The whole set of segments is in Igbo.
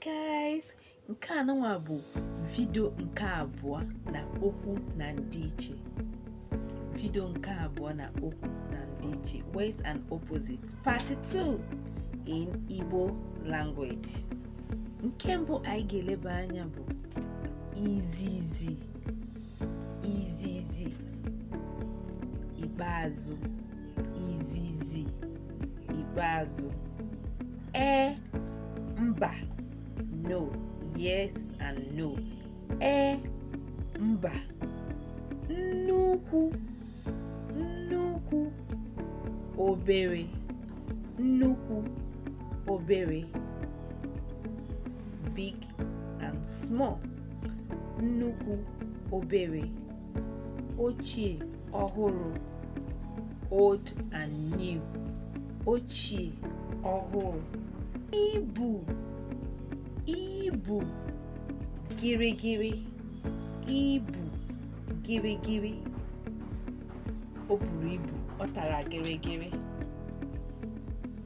guys nke anụnwa bụ vidio nke abụọ na okwu na ndịiche vidio nke abụọ na okwu na ndịiche words and opposite part 2 in Igbo language nke mbụ anyị ga-eleba anya bụ izizi izizi ikpeazụ izizi ikpeazụ ee mba no yes and no ee mba nnukwu nnukwu obere nnukwu obere big and small nnukwu obere ochie ọhụrụ old and new ochie ọhụrụ ibu ibu gịrịgịrị ibu gịrịgịrị o buru ibu ọ tara gịrịgịrị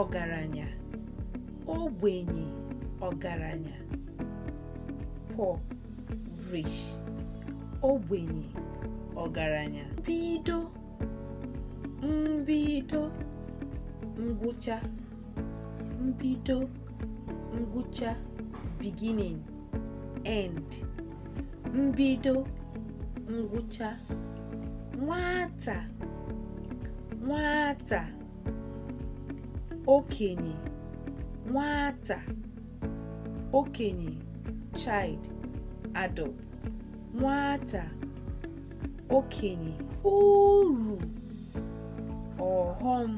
ọgaranya ogbenye ọgaranya poor rich ogbenye ọgaranya mbido mbido ngwụcha mbido ngwụcha beginning end mbido ngwụcha nwata nwata okenye nwata okenye child adult nwata okenye uru ọghọm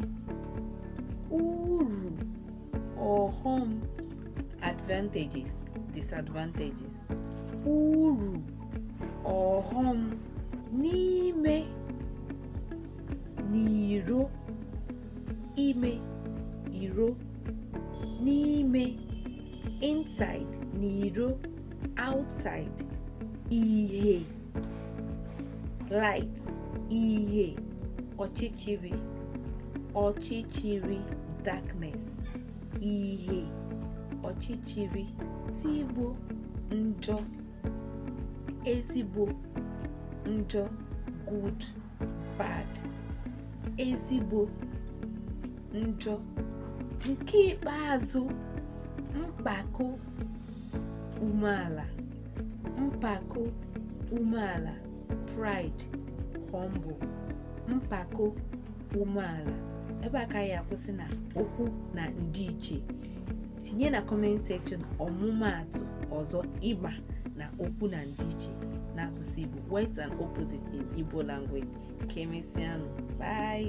uru ọghọm advantages disadvantages uru ọghọm n'ime n'iro ime iro n'ime inside n'iro outside ihe light ihe ọchịchịrị ọchịchịrị darkness ihe ọchịchịrị ezigbo njọ ezigbo njọ good bad ezigbo njọ nke ikpeazụ mpako umeala mpako umeala pride humble mpako umeala ebe a ka ya akwụsị na okwu na ndịiche tinye na comment section ọmụmaatụ ọzọ ị ma na okwu na ndịiche n'asụsụ Igbo words and opposite in Igbo language ka emesịanụ bye